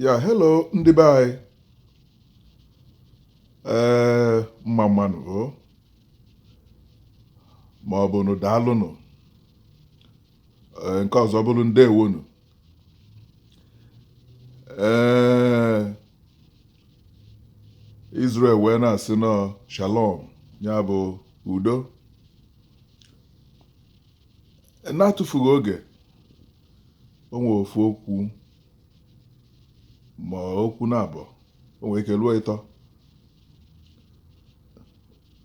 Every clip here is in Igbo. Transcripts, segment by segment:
ya hello ndị be anyị ee mma mmanụ o ma ọ bụ nụ daalụnụ ee nke ọzọ bụrụ ndewonu ee Israel wee na-asị na shalom ya bụ udo n'atụfughị oge o nwere ofu okwu ma okwu naabọ o nwere ike ruo ịtọ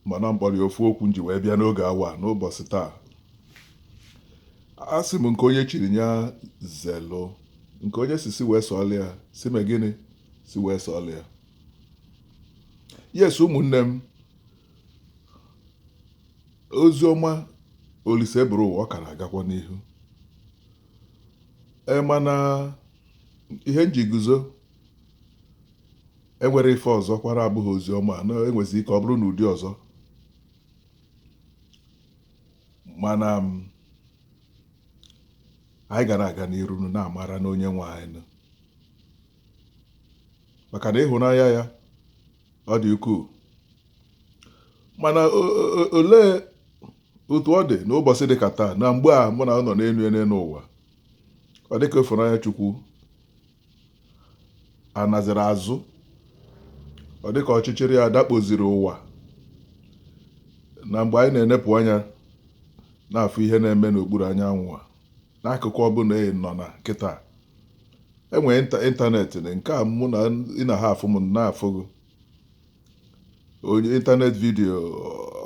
mana m kpọrọ ya ofu okwu m ji wee bịa n'oge awa n'ụbọchị taa asị m nke onye chiri ya zelu nke onye si si wee sọọla ya si me gịnị si wee sọọla ya yes ụmụnne m ozi ọma Oliseburuwa ọ ka na-agakwa n'ihu ee mana ihe m ji guzo e nwere ife ọzọ kwa na-abụghị ozi ọma na e nwezi ike ọ bụrụ n'ụdị ọzọ mana anyị ga na-aga n'iru n'amara na onye nwe anyị maka na ịhụnanya ya ọ dị ukwuu mana olee otu ọ dị n'ụbọchị dị ka taa na mgbe a mụ na ị nọ n'elu ana n'ụwa ọ dịka ịfụnanya Chukwu anaziri azụ ọ dịka ọchịchịrị ya dakpoziri ụwa na mgbe anyị na-enepụ anya na-afụ ihe na-eme n'okpuru anyanwụ a n'akụkụ ọbụla ị nọ na kịta e nwere ịnta- ịntanetị na nke a mụ na ị na-afụ m m na-afụ gị on ịntanetị video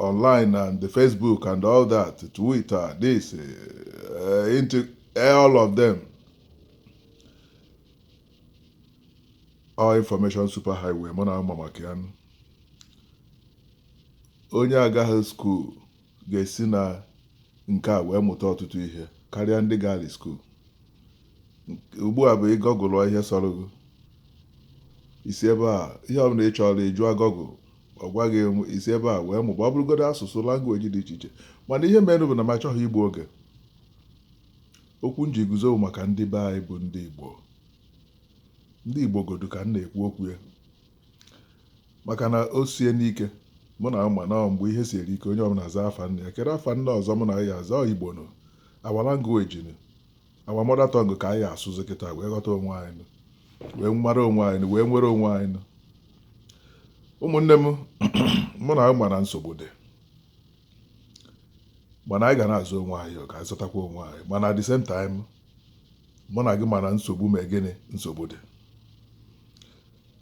online and the facebook and all that twitter this uh, into all of them all information super highway mụ na ama maka ya onye agaghị skuul ga-esi na nke a wee mụta ọtụtụ ihe karịa ndị gaali skuul. Ugbu a bụ ị googleọ ihe sọrọ gị i si ebe a ihe ọbụla ị chọrọ ị jụa Google ọ gwa gị i si ebe a wee mụba ọ bụrụgodu asụsụ language dị iche iche mana ihe mere bụ na m achọghị igbu oge okwu m ji guzo maka ndị be anyị bụ ndị Igbo ndị Igbo godu ka m na-ekwu okwu ya maka na o sie nụ ike mụ na ama na mgbe ihe siere ike onye ọbụla zaa afa nne ya kere afa nne ọzọ mụ na ya aza igbo nụ our language nụ our mother tongue ka anyị asụzi kịta wee ghọta onwe anyị nụ wee mara onwe anyị nụ wee nwere onwe anyị nụ ụmụnne m mụ na ama na nsogbu dị mana anyị ga na-azụ onwe anyị ka anyị zụtakwa onwe anyị mana at the same time mụ na gị ma na nsogbu ma gịnị nsogbu dị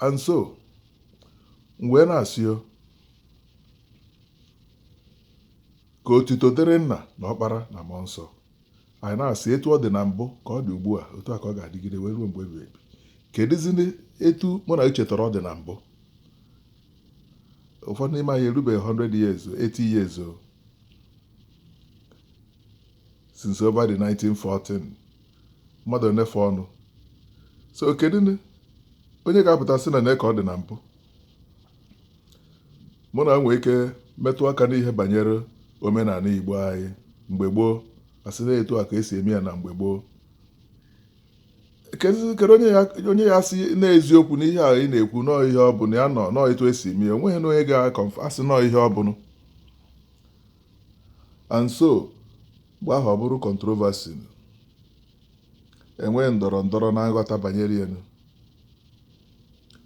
and so m wee na-asị o ka otuto dịrị nna na ọkpara na mmụọ nsọ anyị na-asị etu ọ dị na mbụ ka ọ dị ugbu a otu a ka ọ ga-adịgide wee ruo mgbe ebighị ebi kedụzi etu mụ na echetara ọ dị na mbụ ụfọdụ n'ime anyị erubeghị 100 years 80 years o since over the 1914 mmadụ enefe ọnụ so kedu onye ga-apụta sị na na ka ọ dị na mbụ mụ na nwee ike metụ aka n'ihe banyere omenala igbo anyị mgbe gboo a sị na etu a ka e si eme ya na mgbe gboo kedu onye ya asị n'eziokwu n'ihe a ị na-ekwu nọọ ihe ọ bụla ya nọ nọọ etu e si eme ya onweghị na onye ga-asị nọọ ihe ọ bụla and so Mgbe ahụ ọ bụrụ controversy nụ. E nwee ndọrọ ndọrọ na nghọta banyere ya nụ.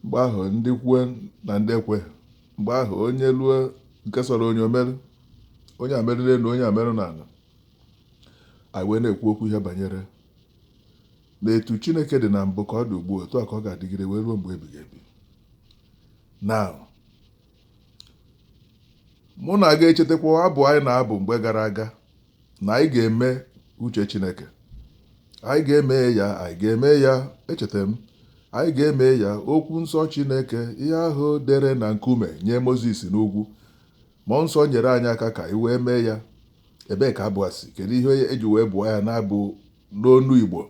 Mgbe ahụ ndị kwe na ndị ekwe. Mgbe ahụ onye lue nke sọrọ onye o merụ. Onye a merụ n'elu, onye a merụ n'ala. Anyị wee na-ekwu okwu ihe banyere na etu Chineke dị na mbụ ka ọ dị ugbu a otu a ka ọ ga-adịgide wee ruo mgbe ebighị ebi. Now, mụ na aga echetakwa abụ anyị na-abụ mgbe gara aga na anyị ga-eme uche Chineke anyị ga-eme ya anyị ga-eme ya echeta m anyị ga-eme ya okwu nsọ Chineke ihe ahụ dere na nkume nye Mozis n'ugwu mmụọ nsọ nyere anyị aka ka anyị wee mee ya ebee ka abụ a si kedu ihe e ji wee bụọ ya n'abụ n'onu Igbo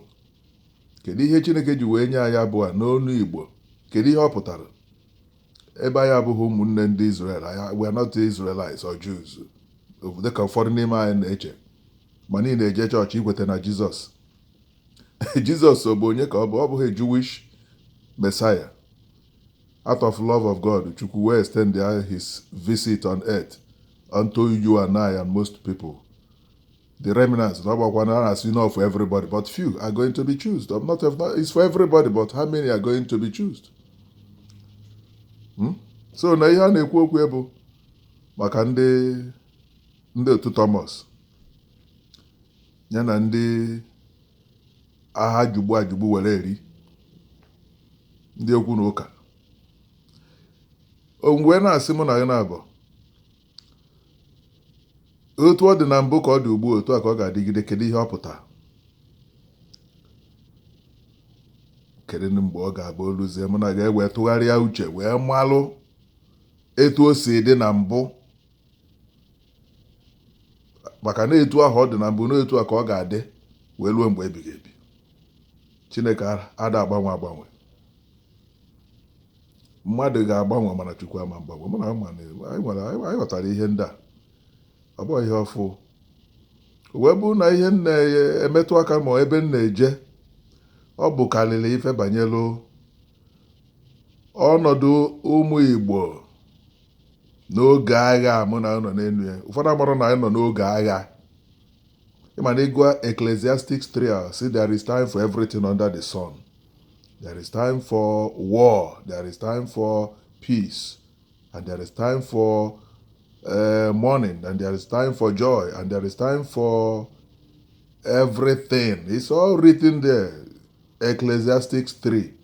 kedu ihe Chineke ji wee nye anyị abụ a n'onu Igbo kedu ihe ọ pụtara ebe anyị abụghị ụmụnne ndị Izrel anyị we are not Israelites or Jews dịka ụfọdụ n'ime anyị na-eche ma anyị na-eje chọọchị ị kweta na Jizọs Jizọs ọ bụ onye ka ọ bụ ọ bụghị Jewish Messiah out of love of God Chukwu wee extend his visit on earth unto you and I and most people The remnants, not about one as you know for everybody, but few are going to be chosen. Not, not it's for everybody, but how many are going to be chosen? Hmm? So na ihe a na-ekwu okwu bụ maka ndị ndị otu Thomas ya na ndị agha jugbu ajugbu were eri ndị okwu na ụka o wee na-asị mụ na gị na-abụ otu ọ dị na mbụ ka ọ dị ugbu a otu a ka ọ ga-adịgide kedu ihe ọ pụtara kedu mgbe ọ ga-abụ o luzie mụ na gị ewee tụgharịa uche wee malụ etu o si dị na mbụ maka na etu ahụ ọ dị na mbụ na etu a ka ọ ga-adị wee ruo mgbe ebighị ebi chineke ada agbanwe agbanwe mmadụ ga-agbanwe mana Chukwu ama agbanwe mụ na ama na anyị nwere anyị ghọtara ihe ndị a ọ bụghị ihe ọfụụ o wee bụrụ na ihe m na-emetụ aka ma ebe m na-eje ọ bụ karịrị ife banyere ọnọdụ ụmụ Igbo n'oge agha mụ na gị nọ n'elu ya ụfọdụ amarọ na anyị nọ n'oge agha ị ma na ị gụa Ecclesiastics 3 sị there is time for everything under the sun There is time for war, there is time for peace, and there is time for uh, mourning, and there is time for joy, and there is time for everything. It's all written there. Ecclesiastics 3.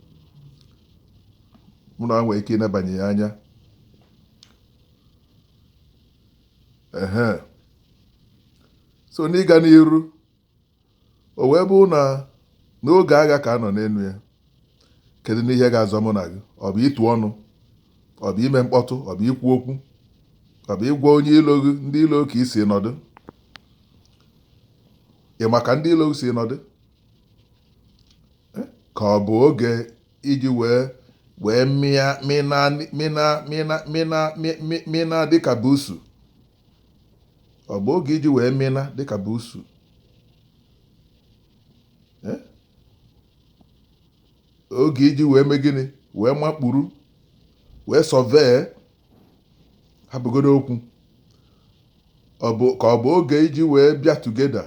Mụ na nwee ike ịnabanye ya anya. Ehe. So n'ịga n'iru, O wee bụrụ na n'oge agha ka a nọ n'elu ya kedu nụ ihe ga-azọ mụ na gị ọ bụ ịtụ ọnụ ọ bụ ime mkpọtụ ọ bụ ikwu okwu ọ bụ ịgwa onye ilo gị ndị ilo ka i si nọdụ ị ma ka ndị ilo gị si nọdụ eh? ka ọ bụ oge iji wee wee mịa mịna mịna mịna mịna mịna dịka busu ọ bụ oge iji wee mịna dịka busu eh? oge iji wee mee gịnị wee makpuru wee survey hapụgodu okwu ọ bụ ka ọ bụ oge iji wee bịa together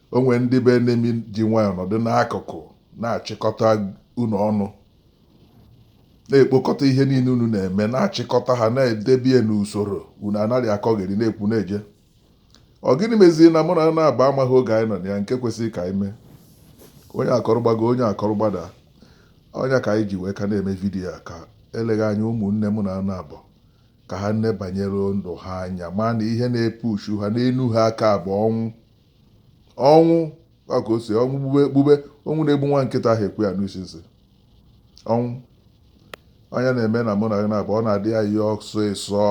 O nwere ndị bụ enemy ji nwayọọ nọdụ n'akụkụ na-achịkọta unu ọnụ na-ekpokọta ihe niile unu na-eme na-achịkọta ha na-edebie n'usoro unu ana-akọgheri na-ekwu na-eje ọ gịnị meziri na mụ na gị naabọ amaghị oge anyị nọ na ya nke kwesịrị ka anyị mee onye akọrọ gbago onye akọrọ gbada ọ ya ka anyị ji wee ka na-eme vidiyo a ka eleghị anya ụmụnne mụ na gị naabọ ka ha nebanye ndụ ha anya ma na ihe na-epu uchu ha n'elu ha aka bụ ọnwụ ọnwụ ka o si ọnwụ gbube gbube ọnwụ na-egbu nwa nkịta anaghị ekwe ya anụ isi nsị ọnwụ anya na-eme na mụ na gị naabọ ọ na-adị anyị ọsịsọ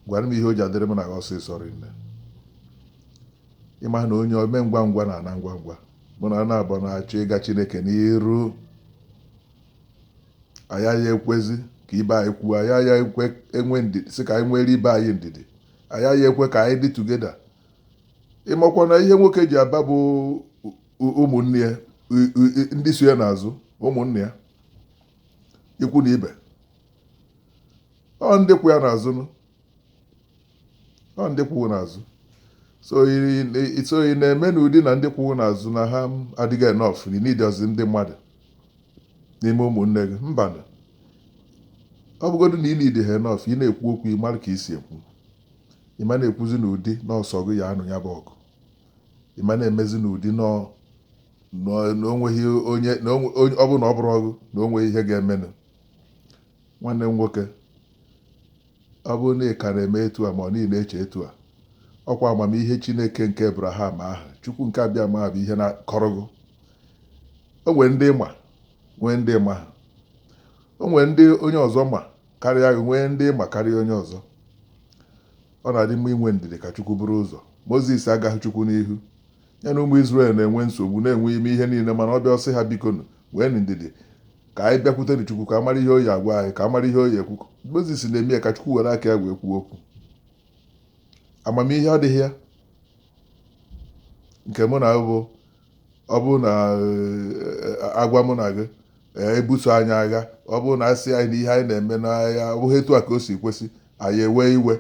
gwanụ m ihe o ji adịrị m na gị ọsịsọ rinne ị ma na onye ome ngwa ngwa na-ana ngwa ngwa mụ na gị naabọ na-achọ ịga chineke n'iru anyị aya ekwezi ka ibe anyị kwuo anyị aya ekwe enwe ndidi sị ka anyị nwere ibe anyị ndidi anyị aya ekwe ka anyị dị tugeda ị makwa na ihe nwoke ji aba bụ ụmụnne ya ndị so ya n'azụ ụmụnne ya ikwu na ibe ọ ndị kwụ ya n'azụ ọ ndị kwụ gị n'azụ so ị na-eme n'ụdị na ndị kwụ gị n'azụ na ha adịgo enough ị needọzi ndị mmadụ n'ime ụmụnne gị mbanụ ọ bụgodu na unu dị enough ị na-ekwu okwu ị mara ka ị si ekwu ị ma na-ekwuzi n'ụdị na ọ sụ ọgụ ị ya-anụ ya bụ ọgụ ị ma na-emezi n'ụdị na ọ bụ na o nweghị onye na onwe- onye- ọ bụrụ na ọ bụrụ ọgụ na o nweghị ihe ga-emenụ Nwanne m nwoke, ọ bụrụ na ị ka na-eme etu a ma ọ na ị na-eche etu a, ọkwa amamihe Chineke nke Ebraham ahụ, Chukwu nke Abịama ahụ bụ ihe na-akọrọ gị. O nwere ndị ị ma, nwee ndị ị maghị. O nwere ndị onye ọzọ ma karịa gị, nwee ndị ị ma karịa onye ọzọ. Ọ na-adị mma inwe ndidi ka Chukwu buru ụzọ. Mozis agaghị Chukwu n'ihu. Ya na ụmụ Izrel na-enwe nsogbu na-enwe ihe niile mana ọ bịa ọ sị ha bikonu nweenụ ndidi ka anyị bịakwutenụ Chukwu ka a mara ihe ọ ya-agwa anyị ka a mara ihe ọ ya-ekwu Mozis na-eme ya ka Chukwu were aka ya wee kwuo okwu amamihe adịghị ya nke mụ na gị bụ ọ bụrụ na eh, a gwa mụ na gị eh, e buso anyị agha ọ bụrụ na a sị anyị na ihe anyị na-eme na ọ bụghị etu a ka o si kwesị anyị ewee iwe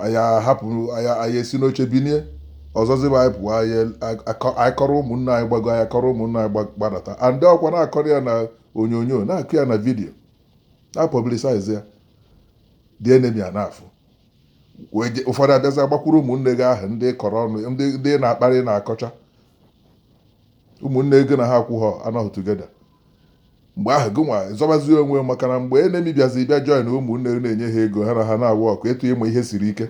anyị ahapụ anyị esi n'oche binie ọzọziba anyị pụọ anyị akọrọ ụmụnne anyị gbago anyị akọrọ ụmụnne anyị gbadata and ọkwa na-akọrọ ya n'onyonyo na-akọ ya na vidiyo na-apọblisaiz ya ndị enemi a na-afụ ụfọdụ abịazi gbakwuru ụmụnne gị ahụ ndị ị kọrọ ọnụ ndị ị na-akparị na-akọcha ụmụnne gị na ha akwụghị anọghị tugeda mgbe ahụ gị nwa zọbazi onwe maka na mgbe enemi bịazi bịa join ụmụnne gị na-enye ha ego ha na ha na-agwa ọkụ etu ịmụ ihe siri ike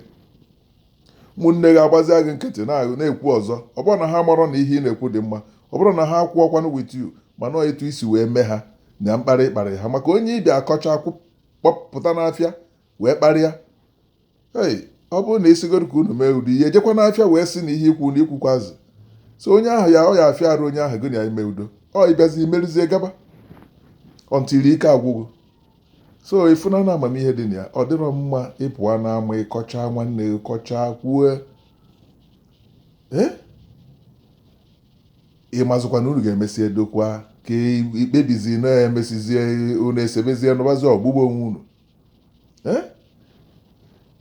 ụmụnne gị agbazia gị nkịtị ị na-ekwu ọzọ ọ bụrọ na ha amarọ na ihe ị na-ekwu dị mma ọ bụrọ na ha akwụrọkwanụ with you mana etu i si wee mee ha na mkparị ị kparị ha maka onye ị bịa akọcha kpọpụta n'afịa wee kparịa ei ọ bụrụ na ị sịgodu ka unu mee udo i jekwa n'afịa wee sị na ihe ikwu na ikwukwazi so onye ahụ ya ọ ya afịa arụ onye ahụ gị na ya ime udo ọ ịbịazi imerizie gaba until ike agwụgo so ị fụna na amamihe dị na ya ọ dịrọ mma ịpụwa n'ama ịkọcha nwanne gị kọchaa kwue ee ị mazikwa na unu ga-emesi edokwa ka ikpebizi na-emesizie unu esebezie nụbazi ọgụ gbuba onwe unu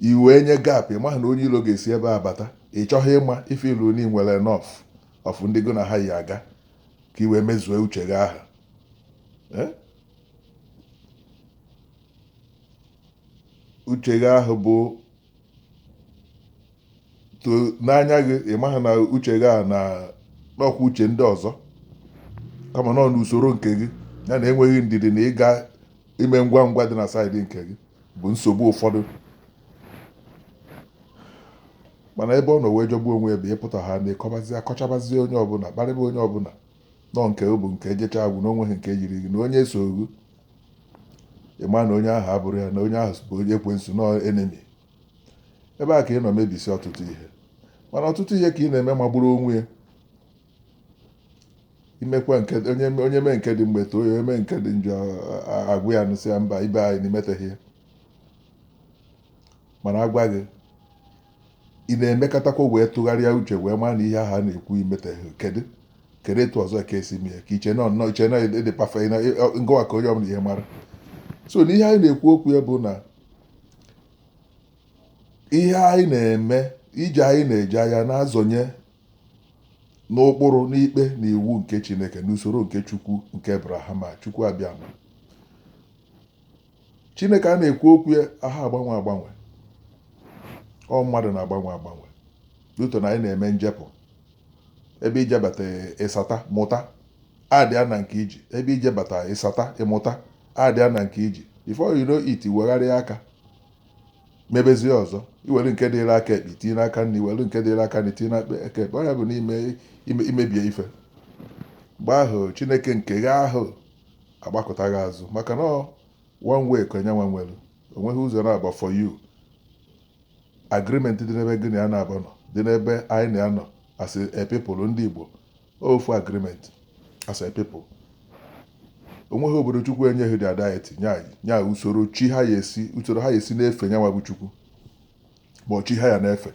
i wee nye gap ị maghị na onye ilo ga-esi ebe a bata ị chọghị ịma ife ilu na i nwere enough of ndị gị na ha yi aga ka i wee mezue uche gị ahụ uche gị ahụ bụ to n'anya gị ị maghị na uche gị a na ọ nọkwa uche ndị ọzọ kama nọ n'usoro nke gị ya na enweghị ndidi na ị ga-eme ngwa ngwa dị na side nke gị bụ nsogbu ụfọdụ mana ebe ọ nọ wee jọgbuo onwe ya bụ ịpụta ha na ịkọbazi akọchabazie onye ọbụla kparịba onye ọbụla na ọ nke bụ nke ejechaa ọ gwụ na onweghị nke yiri gị na onye so gị ị ma na onye ahụ abụrụ ya na onye ahụ bụ onye ekwensu na enemy ebe a ka ị nọ mebisi ọtụtụ ihe mana ọtụtụ ihe ka ị na-eme magburu onwe ya imekwa nke onye onye mee nke dị mma e too ya e mee nke dị njọ agwa ya nụ sị ya mba ibe anyị na i meteghị ya mana agwa gị ị na-emekatakwa wee tụgharịa uche wee maa na ihe ahụ a na-ekwu i meteghị kedu kedu etu ọzọ ka esi mee ka iche nọ nnọọ iche na ị dị perfect na gịnwa ka onye ọbụla ihe mara so na ihe anyị na-ekwu okwu ya bụ na ihe anyị na-eme ije anyị na-eje ya na-azọnye n'ụkpụrụ n'ikpe na iwu nke chineke n'usoro nke chukwu nke abrahama chukwu abịama chineke a na-ekwu okwu ya aha agbanwe agbanwe ọ mmadụ na-agbanwe agbanwe due to na anyị na-eme njepụ ebe i jebata ịsata mụta add ya na nke i ji ebe i jebata ịsata ị mụta add ya na nke i ji before you know it wegharịa aka mebezie ọzọ i were nke dịrị aka ekpe tinye n'aka nri were nke dịrị aka nri tinye n'aka ekpe ọ ya bụ n'ime imebie ife mgbe ahụ chineke nke gị ahụ agbakụta gị azụ maka na ọ one way ka nyanwa nwere o nweghị ụzọ naabọ for you agreement dị n'ebe gị na ya naabọ nọ dị n'ebe anyị na ya nọ as a people ndị Igbo ofu agreement as a people o nweghị obodo Chukwu enyeghị the identity nye anyị nye anyị usoro chi ha ya esi usoro ha ya esi na-efe nyanwa bụ Chukwu ma ọ chi ha ya na-efe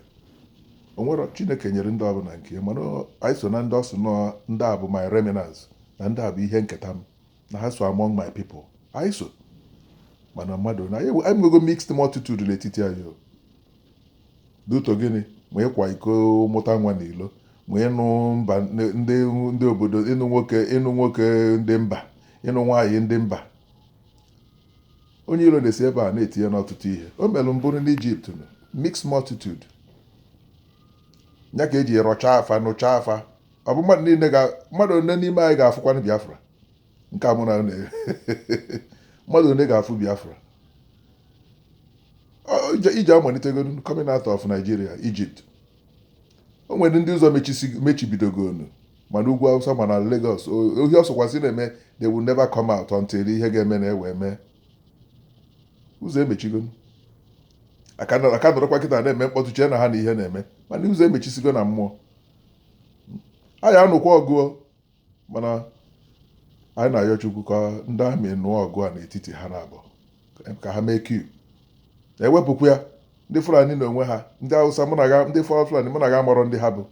o nwere chineke nyere ndị ọbụla nke ya mana ọ- anyị so na ndị ọ sị na ndị a bụ my remnants na ndị a bụ ihe nketa m na ha so among my people anyị so mana mmadụ na anyị ewe- anyị nwego mixed multitude n'etiti anyị due to gịnị ma ịkwa iko mụta nwa n'ilo ma ịnụ mba ndị ndị obodo ịnụ nwoke ịnụ nwoke ndị mba ịnụ nwaanyị ndị mba Onye iro na-esi ebe a na-etinye n'ọtụtụ ihe. O mere mbụrụ n'Ijipt nụ, mixed multitude. Ya ka e ji rọchaa afa, nụchaa afa. Ọ bụ mmadụ niile ga mmadụ ole n'ime anyị ga-afụkwanụ Biafra? Nke a mụ na na mmadụ ole ga-afụ Biafra? Ọ- ije- Ije amalitegoro coming out of Nigeria, Egypt. O nwere ndị ụzọ mechisi- mechibidogonu ma n'ugwu awụsa ma na Lagos ohi ọsọkwasị na-eme they will never come out until ihe ga-eme na ewe mee ụzọ emechigo a ka nọrọkwa kịta na-eme mkpọtụ chee na ha ma ihe na-eme mana ụzọ emechisigo na mmụọ anyị anụkwa ọgụ mana anyị na-ayọ Chukwu ka ndị army nụọ ọgụ a n'etiti ha naabọ ka ha mee coup ewepụkwa ya ndị Fulani n'onwe ha ndị Hausa mụ na ndị Fulani mụ na gị amarọ ndị ha bụ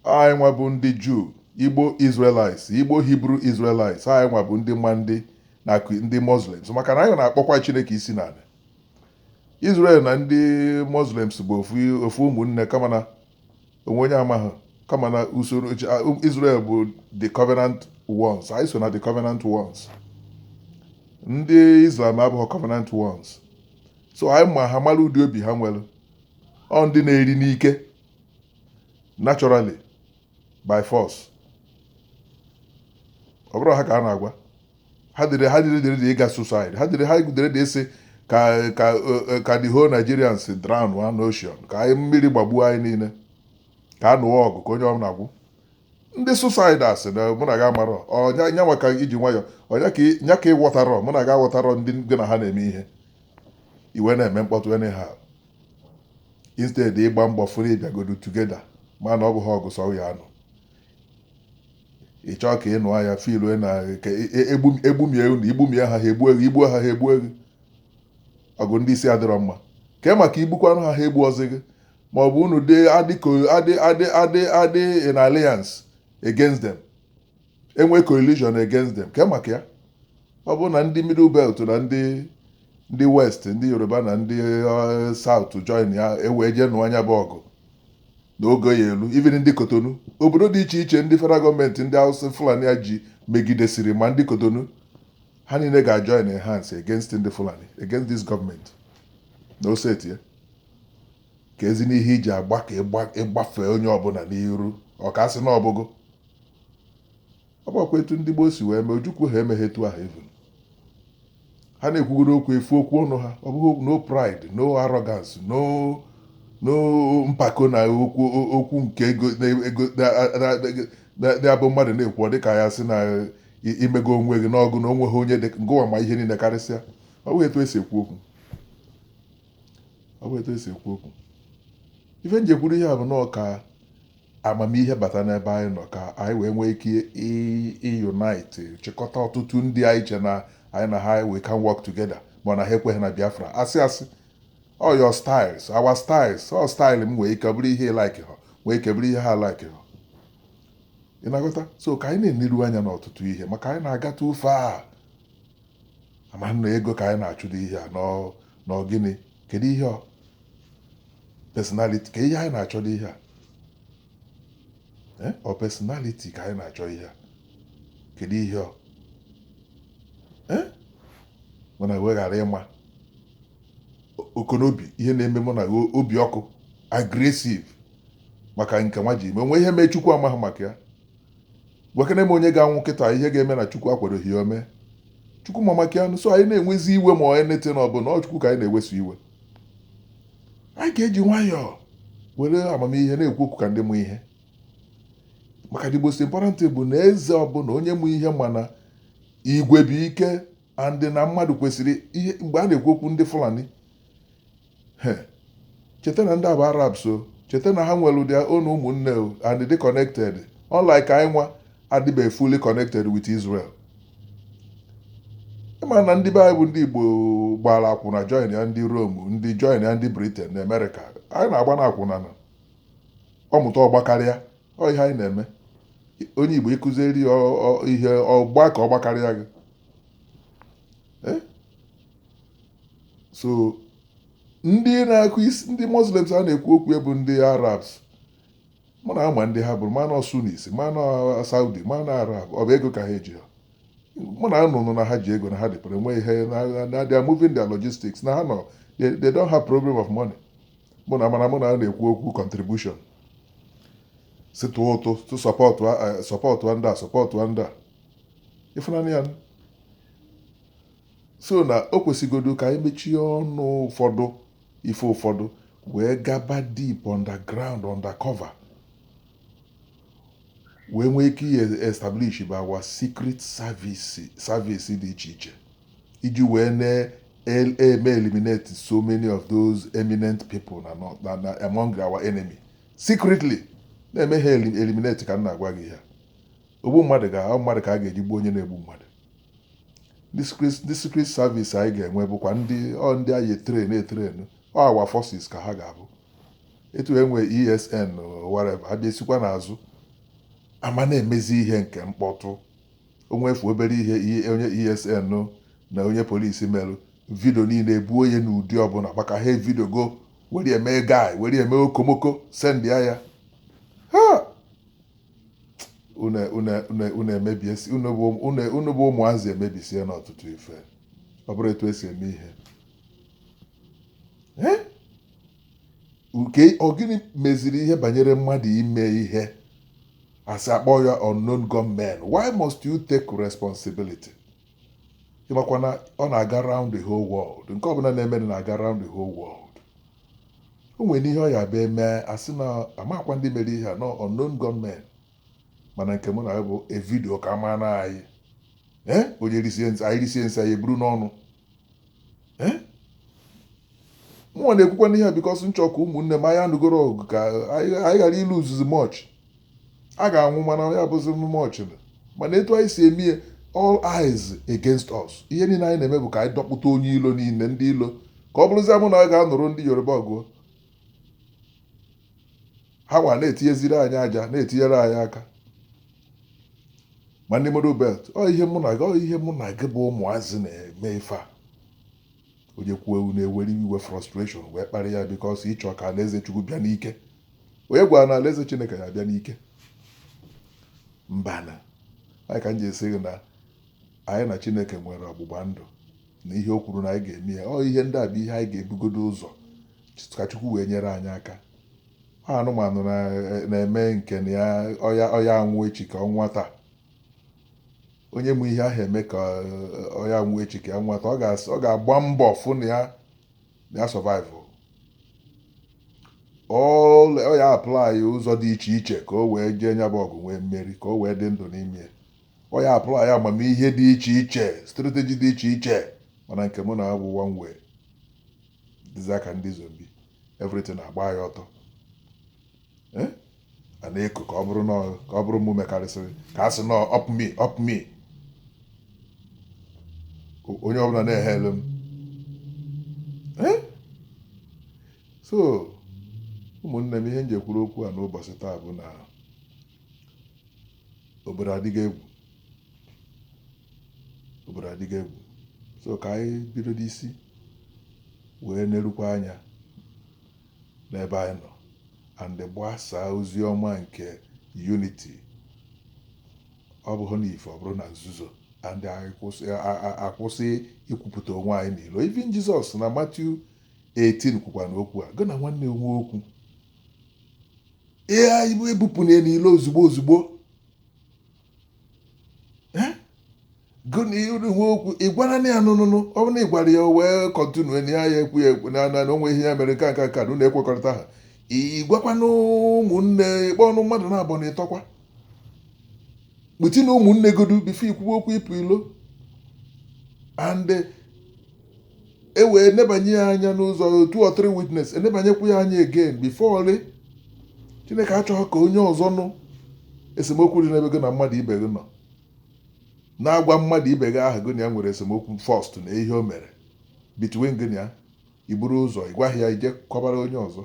anyị nwa bụ ndị jew igbo israelites igbo hebrew israelites anyị nwa bụ ndị ma ndị na ndị muslims maka na anyị na-akpọkwa chineke isi n'ala israel na ndị muslims bụ ofu ụmụnne kama na o nwe onye amaghị kama n'usoro um, israel bụ the covenant ones anyị so na the covenant ones ndị islam abụghị covenant ones so anyị ma ha mara ụdị obi ha nwere ọ ndị na-eri n'ike naturally by force ọ bụrụ ha ka a na-agwa ha dịrị ha dị ready ịga suicide ha dịrị ha dị ready ịsị ka ka eh, ka the whole Nigerians drown ha n'ocean ka anyị mmiri gbagbuo anyị niile ka a nụwa ọgụ ka onye ọ na-agwụ ndị suicide a sị na mụ na gị amarọ ọ nya nya maka iji nwayọ ọ nya ka ị- nya ka ị ghọtarọ mụ na gị aghọtarọ ndị gị na ha na-eme ihe i wee na-eme mkpọtụ anyhow instead ịgba mbọ fụrụ ịbịagodu together mana ọ bụghị ọgụ sọ ya anụ ị chọọ ka ị nụọ ya fil na egbumie unu igbumie ha ha egbu egwu igbuo ha ha egbu egwu ọgụ ndị isi adịrọ mma kee maka igbukwanụ ha ha egbuozi gị ma ọ bụ unu dị in alliance against them e nwee coalition against them ka maka ya ọ bụrụ na ndị middle belt na ndị ndị west ndị yoruba na ndị eh, south joinia e wee jee nụọ nya bụ ọgụ n'oge ya elu even ndị kotonu obodo dị iche iche ndị federal gọọmenti ndị hausa fulani a ji megidesiri ma ndị kotonu ha niile ga-join hands against ndị fulani against this gọọmenti na oseti ya kezinụ ihe i ji agba ka ị gbafee onye ọbụla n'iru ọ ka a sị na ọ bụghị ọ bụkwa etu ndị gboo si wee mee ojukwu ha emeghị etu ahụ even ha na-ekwugoro okwu efu okwu ọnụ ha ọ bụghị no pride no arrogance no no mpako na okwu okwu nke ego ndị a bụ mmadụ na-ekwu ọ dịka ya sị na i mego onwe gị n'ọgụ na onwe ha onye dị ngụwa ma ihe niile karịsịa ọ bụghị etu e si ekwu okwu ọ bụ etu e si ekwu okwu ife m ji ekwuru ihe a bụ nọọ ka amamihe bata n'ebe anyị nọ ka anyị wee nwee ike unite chịkọta ọtụtụ ndị anyị che na anyị na ha we can work together ma na ha ekweghị na biafra asị asị all your styles our styles all style m nwee ike bụrụ ihe like ha nwee ike bụrụ ihe ha like ha ị na-aghọta so ka anyị na-enelu anya n'ọtụtụ ihe maka anyị na-aghọta ife a a ma na ọ ego ka anyị na-achọdo ihe a na ọ gịnị kedu ihe ọ personality ka ihe anyị na-achọdo ihe a ọ eh? personality ka anyị na-achọ ihe a kedu ihe ọ eh? mana weghara ịma ọkụ n'obi ihe na-eme mana obi ọkụ aggressive maka nke nwa ji ime o nwe ihe mee chukwu amaghị maka ya gwakene m onye ga-anwụ kịta ihe ga-eme na chukwu akwadoghị ya o mee chukwu ma maka ya so anyị na-ewezi iwe ma anything ọbụla ọ chukwu ka anyị na-eweso iwe anyị ga-eji nwayọọ were amamihe na-ekwu okwu ka ndị mụ ihe maka the most important bụ na eze ọbụla onye mụ ihe mana igwe bụ ike and na mmadụ kwesịrị ihe mgbe a na-ekwu okwu ndị fulani He, cheta na ndị a bụ Arabs o, cheta na ha nwere their own ụmụnne o and dị connected unlike anyị nwa adịbeghị fully connected with Israel. Ị ma na ndị be anyị bụ ndị Igbo gbara akwụna joinia ndị Rome, ndị joinia ndị Britain na Amerịka. Anyị na-agba na akwụna na ọ mụta ọ gbakarịa, ọ ihe anyị na-eme. Onye Igbo ị kụziri ya ọ- ọ- ihe ọgba ka ọ gbakarịa gị. Eh? so ndị na-akụ isi ndị muslims a na-ekwu okwu ya bụ ndị arabs mụ na ama ndị ha bụrụ mana sunnis mana saudi mana arab ọ bụ ego ka ha eji ha mụ na anụnụ na ha ji ego na ha dịpụrụ enwe ihe na they are moving their logistics na ha nọ they don't have problem of money mụ na mana mụnwa na-ekwu okwu contribution sị tụọ ụtụ tụ sọpọtụ sọpọtụ ndị a sọpọtụ ndị a ịfụnanya ya so na o kwesịgodu ka anyị mechie ọnụ ụfọdụ ife ụfọdụ wee gaba deep underground undercover wee nwee ike i establish bụ our secret service service dị iche iche iji wee na-eme eliminate so many of those eminent people na nọ- na na among our enemy secretly na-eme ha elim- eliminate ka m na-agwa gị ya ogbu mmadụ ga mmadụ ka a ga-eji gbuo onye na-egbu mmadụ ndị secret service anyị ga-enwe bụkwa ndị ọ ndị anyị etrain etrain ọ our forces ka ha ga-abụ etu e nwe esn whatever ha bịasikwa n'azụ a ma na-emezi ihe nke mkpọtụ o nwefu obere ihe e, onye esn na onye police merụ video niile ebuo onye n'ụdị ọbụla maka ha evideogo were eme ga were eme okomoko sendịa ya ha unu emebie unu bụ ụmụazị emebisiena ọtụtụ ife ọ bụrọ etu e si eme ihe nke ọ gịnị meziri ihe banyere mmadụ ime ihe a sị akpọ ya unknown gunmen why must you take responsibility ị makwa na ọ na-aga round the whole world nke ọbụla na-emenụ na-aga round the whole world o nwere ihe ọ ya-abụ e mee a sị na amakwa ndị mere ihe a na unknown gunmen mana nke mụ na ya bụ evidio ka a ma na anyị ee onye risie nsị anyị risie nsị anyị eburu n'ọnụ eh? mụnwa na-ekwukwa n'ihe a because m chọ ka ụmụnne m anyị anụgoro ọgụ ka anyị ghara iluzuzi much a ga-anwụ mana ya bụzi much mana etu anyị si eme all eyes against us ihe niile anyị na-eme bụ ka anyị dọkpụta onye ilo niile ndị ilo ka ọ bụrụzie mụ na a ga-anụrụ ndị yoruba ọgụ hanwa na-etinyeziri anyị aja na-etinyere anyị aka ma ndị middle belt ọ ihe mụ na gị ọ ihe mụ na gị bụ ụmụazị na-eme ife a onye kwuo unu ewere iwe frustration wee kparị ya because ị chọ ka alaeze chukwu bịa n'ike onye gwara unu na alaeze chineke ya-abịa n'ike mbanụ ya ka m ji asị gị na anyị na chineke nwere ọgbụgba ndụ na ihe o kwuru na anyị ga-eme ya ọ ihe ndị a bụ ihe anyị ga-ebugodo ụzọ ka Chukwu wee nyere anyị aka anụmanụ na- na-eme nke na ya ọ ya- ọ ya anwụ echi ka ọ nwụọ taa onye ma ihe aha eme ka ọ- ọ ya anwụ echi ka ya nwụọ taa ọ ga- ọ ga-agba mbọ fụ na ya na ya survive ọ ọ ya apply ụzọ dị iche iche ka o wee jee nya bụ ọgụ nwee mmeri ka o wee dị ndụ n'ime ya ọ ya apply amamihe dị iche iche strategy dị iche iche mana nke mụ na-abụ one way dịzị ka ndị zombie everything agba ya ọtọ eh? a na-eko ka ọ bụrụ na ka ọ bụrụ mụ mekarịsịrị ka a sị na up me up me onye ọbụla na-hail m eh? so ụmụnne m ihe m ji ekwuru okwu a n'ụbọchị taa bụ na obodo adịgo egwu obodo adịgo egwu so ka anyị bido n'isi wee nerukwa anya n'ebe anyị nọ and gbasaa ozi ọma nke unity ọ bụghị n'ife ọ bụrụ na nzuzo and anyị kwụsị- a- a- a- akwụsị ikwupụta onwe anyị n'ilo even Jesus na Matthew 18 kwukwanụ okwu a gị na nwanne nwee okwu ihe anyị ebupụna n'ilo ozugbo ozugbo okwu ị gwara na ya nụnụnụ ọ bụrụ na ị gwara ya wee continue na ya ya ekwu ya ekwu na na o nwe ihe ya mere nke nka ka na ekwekọrịtaha ị gwakwanụ ụmụnne ị kpọọnụ mmadụ naabọ na ịtọ kwa butinụ ụmụnne godu before i kwuwe okwu ịpụ ilo and e wee nebanye ya anya na two or three witness e nebanyekwu ya anya again before rị chineke achọghị ka onye ọzọ nụ esemokwu dị n'ebe gị na mmadụ ibe gị nọ na-agwa mmadụ ibe gị ahụ gị na ya nwere esemokwu first na ihe o mere between gị na ya i buru ụzọ ị gwaghị ya i je kọbara onye ọzọ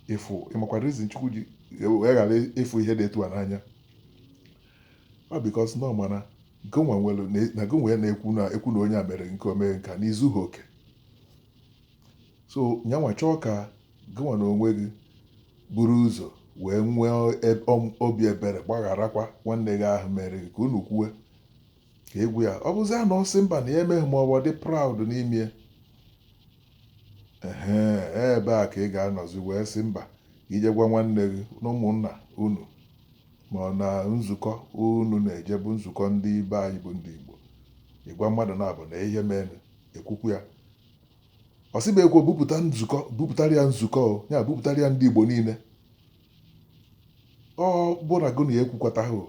ị fụ ị makwa reason Chukwu ji wee ghara ịfụ ihe dị etu a n'anya ọ because na ọ mara na gịnwa nwere na na gịnwa ya na-ekwu na ekwu na onye a mere nke o mee nke a na i zughị oke so nyanwa chọọ ka gịnwa na onwe gị buru ụzọ wee nwee eb- ọm- obi ebere gbagharakwa nwanne gị ahụ mere gị ka unu kwuwe ka ị gwa ya ọ bụzia na ọ sị mba na ya emeghị ma ọ bụ ọ dị proud n'ime ya ehe ebe a ka ị ga-anọzi wee sị mba i je gwa nwanne gị na ụmụnna unu ma ọ na nzukọ unu na-eje bụ nzukọ ndị be anyị bụ ndị Igbo ị gwa mmadụ naabọ na ihe mere e kwukwuo ya ọ sịbekwa bupụta nzukọ bupụtara ya nzukọ o, ya bupụtara ya ndị Igbo niile ọ bụ na gụ na ya ekwukọtaghị o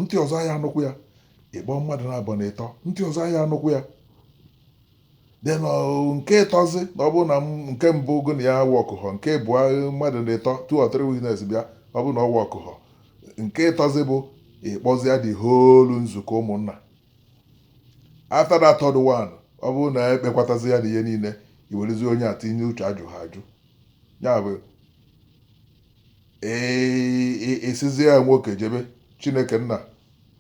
ntị ọzọ ya anụkwu ya ị kpọọ mmadụ naabọ na ịtọ ntị ọzọ ya anụkwu ya then ọ, nke ịtọzi na ọ bụrụ na m- nke mbụ gụ na ya workhọ nke bụ mmadụ na ịtọ two or three witness bịa ọ bụrụ na ọ workhọ nke ịtọzi bụ ịkpọzia the whole nzukọ ụmụnna after that third one ọ bụrụ na e kpekatazi ya na ihe niile i werezi onye a tinye uche ajụ ha ajụ ya bụ ị sịzie ya nwoke jee be chineke nna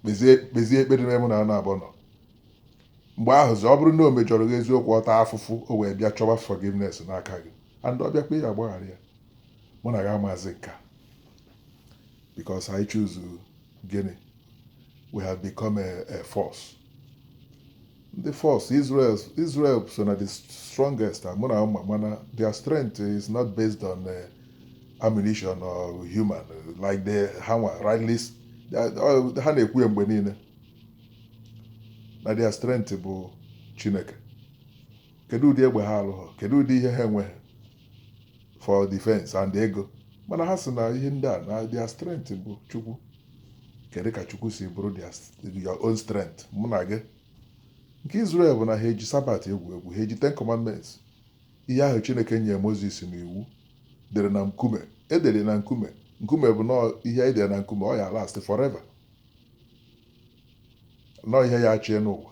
kpezie ekpere n'ebe unu naabọ nọ mgbe ahụzi ọ bụrụ na o mejọrọ gị eziokwu ọta afụfụ o wee bịa chọwa forgiveness n'aka gị and ọ bịakwa ị ya-agbaghara ya mụ na gị amazi nka because I choose gịnị we have become a, a force ndị force Israel Israel so na the strongest mụ na ama mana their strength is not based on uh, ammunition or human like the ha nwa rightly s- uh, ha na-ekwu ya mgbe niile na their strength bụ Chineke kedu ụdị egbe ha alụghọ kedu ụdị ihe ha enweghị for defense and ego mana ha sị na ihe ndị a na their strength bụ chukwu kedu ka chukwu si bụrụ their st- your own strength mụ na gị nke Israel bụ na ha eji Sabbath egwu egwu ha eji ten commandments ihe ahụ chineke nyere moses na iwu e dere na nkume e dere na nkume nkume bụ na ihe e dere na nkume ọ ya last forever na ọ ihe ya-achị enu ụwa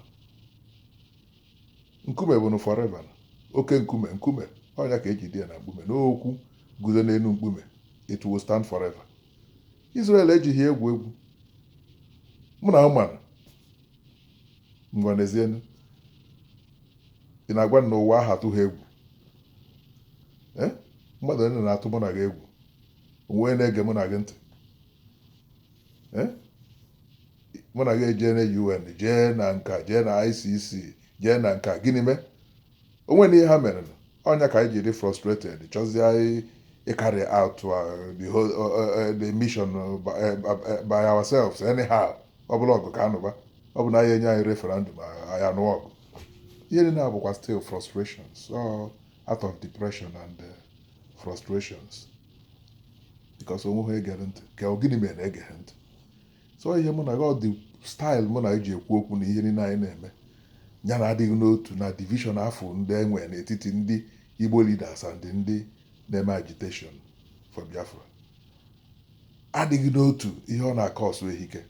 Nkume bụ nụ forever, oke nkume, nkume, ọ nya ka e ji dee ya na mkpume na okwu guzo n'elu mkpume, it will stand forever. Israel ejighị egwu egwu. Mụ na gị manụ ngwa n'ezienu ị na-agwa na ụwa ha atụghị egwu ee eh? mmadụ onye na-atụ mụ na gị egwu o nwe na-ege mụ na gị ntị Eh? mụ na gị ejee na UN jee na nka jee na ICC jee na nka gịnị mee o nwene ihe ha mere ọ nya ka anyị jiri frustrated chọzie anyị ịcarry out uh, the whole uh, uh, the mission by ourselves anyhow ọ bụla ọgụ ka a nụba ọ bụ na anyị enye anyị referendum anyị anụọ ọgụ ihe niile a bụkwa still frustrations all out of depression and frustrations because o nwehọ egere ntị ka ọ gịnị mere na egeghị ntị so ihe mụ na gị ụdị style mụ na gị ji ekwu okwu na ihe niile anyị na-eme ya na adịghị n'otu na division ahụ ndị e nwere n'etiti ndị igbo leaders and ndị na-eme agitation for biafra adịghị n'otu ihe ọ na-akọ ọsụ ehike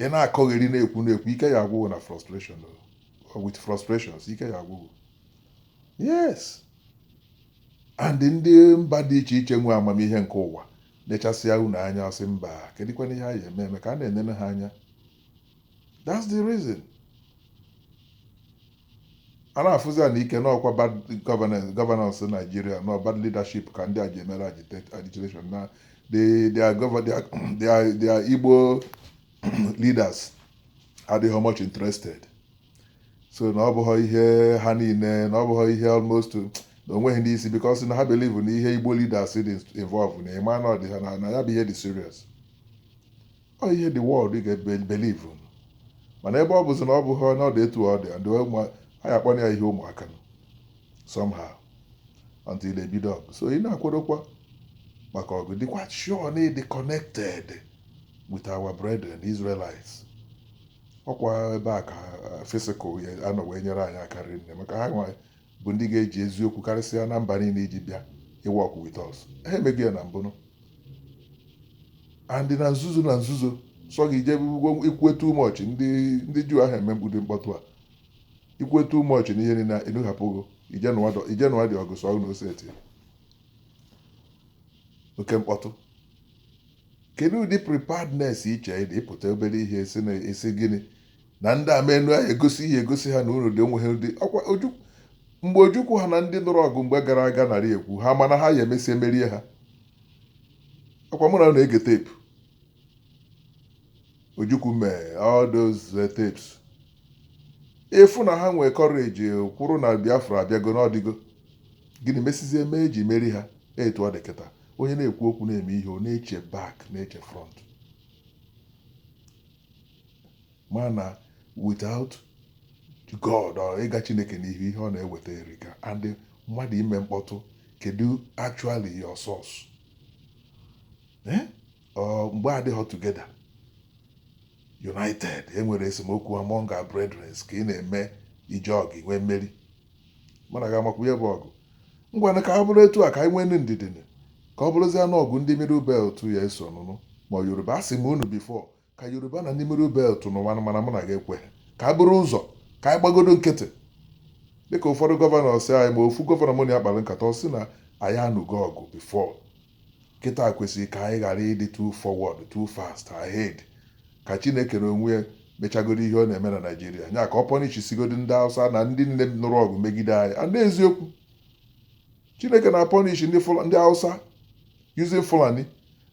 ị na-akọgheri na-ekwu na-ekwu ike ya agwụghị na frustration o. with frustrations ike ya agwụghị yes And ndị mba dị iche iche nwe amamihe nke ụwa nechasịa unu anya ọ sị mba kedụkwanụ ihe a ya-eme eme ka a na-enene ha anya that's the reason a na-afụzi ya n'ike na ọkwa bad governance governance Nigeria na bad leadership ka ndị a ji emere agita- agitation na the their govern their their their Igbo leaders adịghị much interested so na ọ bụghị ihe ha niile na ọ bụghị ihe almost na onweghị ndị isi because na ha believe na ihe Igbo leaders dị involve na ị ma na ọ dị ha na na ya bụ ihe dị serious ọ ihe the world ga-believe mana ebe ọ bụzi na ọ bụghị na ọ dị etu ọ dị and ụmụ- ha ya akpọrọ ya ihe ụmụaka nọ somehow until they bido ọgụ so ị na-akwadokwa maka ọgụ dịkwa sure na ị dị connected with our brethren the Israelites ọkwa ebe a ka physical ya anọ wee nyere anyị aka rinne maka ha nwa bụ ndị ga-eji eziokwu karịsịa na mba niile iji bịa ị work with us ha emeghị ya na mbụnụ and na nzuzo na nzuzo so gị jebe ọgụ ikwu too much ndị ndị Juu ahụ emegbude mkpọtụ a ikwu too much na ihe niile na unu ahapụgo ije nụwadị ọgụ so na oseti oke mkpọtụ Kedu ụdị preparedness i chee dị ịpụta obere ihe si na isi gịnị na ndị ama unu ahụ egosi ihe egosi ha na unu dị onwe ha ụdị ọkwa Oju mgbe Ojukwu ha na ndị nụrụ ọgụ mgbe gara aga na-ekwu ha mana ha ya emesịa merie ha ọkwa mụ na unu ege tape Ojukwu mee all those eh, tapes ị fụ na ha nwee courage kwụrụ na Biafra abịago na ọ dịgo gịnị mesizie mee e ji merie ha etu ọ dị kịta onye na-ekwu okwu na-eme ihe ọ na-eche back na-eche front mana without God or ịga Chineke n'ihu ihe ọ na-eweta erika and mmadụ ime mkpọtụ kedu actually your source eh? ọ mgbe a dịghị together united e nwere esemokwu among our brethren ka ị na-eme ije ọgụ nwee mmeri mụ na gị amakwu ya bụ ọgụ ngwanụ ka ọ bụrụ etu a ka anyị nweenụ ndidi nụ, ka ọ bụrụzie a nụọ ọgụ ndị middle belt ya eso nụnụ ma Yoruba asị m unu before ka Yoruba na ndị middle belt nụwanụ mana mụ na gị ekweghị ka e buru ụzọ ka anyị gbagodo nkịtị dịka ụfọdụ gọvanọ si anyị ma ofu gọvanọ mụ na ya kpara nkata ọ sị na anyị anụgo ọgụ before Kịta kwesịrị ka anyị ghara ịdị too forward, too fast, ahead. Ka Chineke n'onwe ya mechagodi ihe ọ na-eme na Naịjirịa. Nya ka ọ pọnishisigodị ndị Hausa na ndị nile nụrụ ọgụ megide anyị. And n'eziokwu, Chineke na-apọnish ndị Fula- ndị Hausa using Fulani,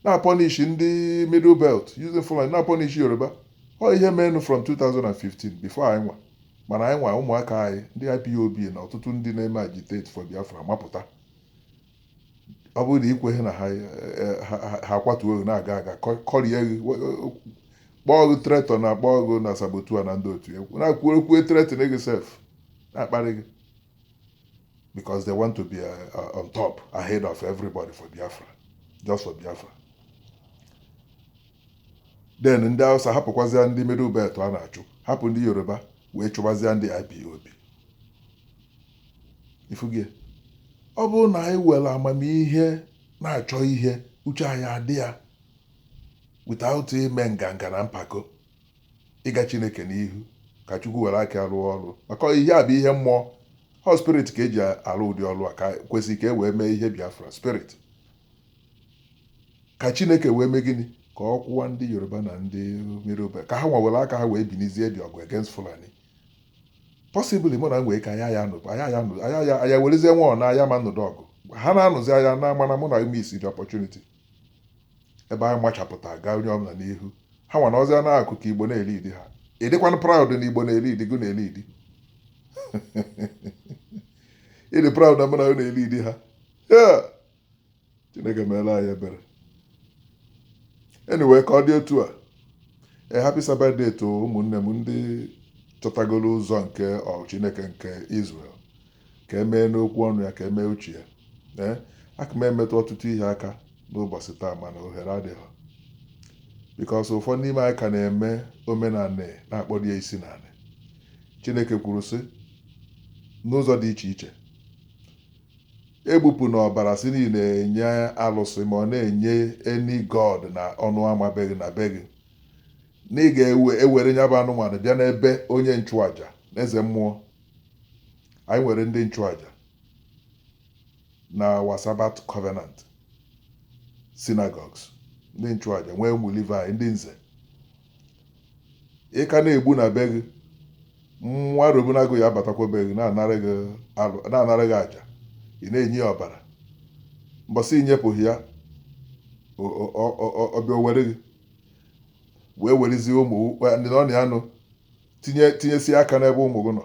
na-apọnish ndị Middle Belt using Fulani, na-apọnish Yoruba. Ọ ihe meenụ from 2015 before anyị nwa. Mana anyị nwa ụmụaka anyị, ndị IPOB na ọtụtụ ndị na-eme agitate for Biafra mapụta. ọ bụrụ na ị kweghị na ha ha kwatuo gị na-aga aga kọrie gị kpọọ gị traitor na-akpọ gị na saboteur na ndị otu egwu na-akwuo okwue threaten gị sef na-akparị gị because they want to be uh, uh, on top ahead of everybody for Biafra just for Biafra then ndị Hausa hapụkwazịa ndị middle belt a na-achụ hapụ ndị Yoruba wee chụbazịa ndị IPOB ị fụgo ọ bụrụ na anyị were amamihe na-achọ ihe uche anyị adị ya without ime nganga na mpako ịga chineke n'ihu ka chukwu were aka rụọ ọrụ maka ihe a bụ ihe mmụọ ọ spirit ka e ji arụ ụdị ọrụ a ka kwesịrị ka e wee mee ihe biafra spirit ka chineke wee mee gịnị ka ọ kwụwa ndị yoruba na ndị middle belt ka ha nwa were aka ha wee binizie dị ọgụ against fulani possibly mụ na nwee ka aya ya nụpụ aya ya nụpụ aya ya aya werezie nwa ọ na aya ma nụdụ ọgụ ha na-anụzi aya na mana mụ na emiss the opportunity ebe anyị machapụta gaa onye ọbụla n'ihu ha nwa anọzịa na-akụ aka igbo na-elead ha ị dịkwa proud na igbo na-elead gị na-elead ị dị proud na mụ na gị na-elead ha chineke meela anyị ebere anyway ka ọ dị otu a a happy sabbath day to ụmụnne m ndị chọtagoro ụzọ nke ọ chineke nke israel ka e mee n'okwu ọnụ ya ka e mee uche ya ee aka m emetụ ọtụtụ ihe aka n'ụbọchị taa mana ohere adịghị because ụfọdụ n'ime anyị ka na-eme omenala na-akpọdo ya isi n'ala chineke kwuru sị n'ụzọ dị iche iche Egbupụna ọbara sị na ị na-enye alụsị, ma ọ na-enye any god n'ọnụ ama be gị na be gị. Na ị ga-ewere ya bụ anụmanụ bịa n'ebe onye nchụaja, eze mmụọ. Anyị nwere ndị nchụaja na our Sabbath covenant synagogues, ndị nchụaja, nwee ụmụ Livayị, ndị nze, ị ka na-egbu na be gị mmụọ arụbunagụ ya abatakwa be gị na-anara gị alụ na-anara gị aja ị na-enye ya ọbara mbọsị i nyepụghị ya ọ- ọ- ọ- ọ- ọ- ọ bịa o were gị wee werezie ụmụ ndị na ọ na ya nọ tinye tinyesie aka n'ebe ụmụ gị nọ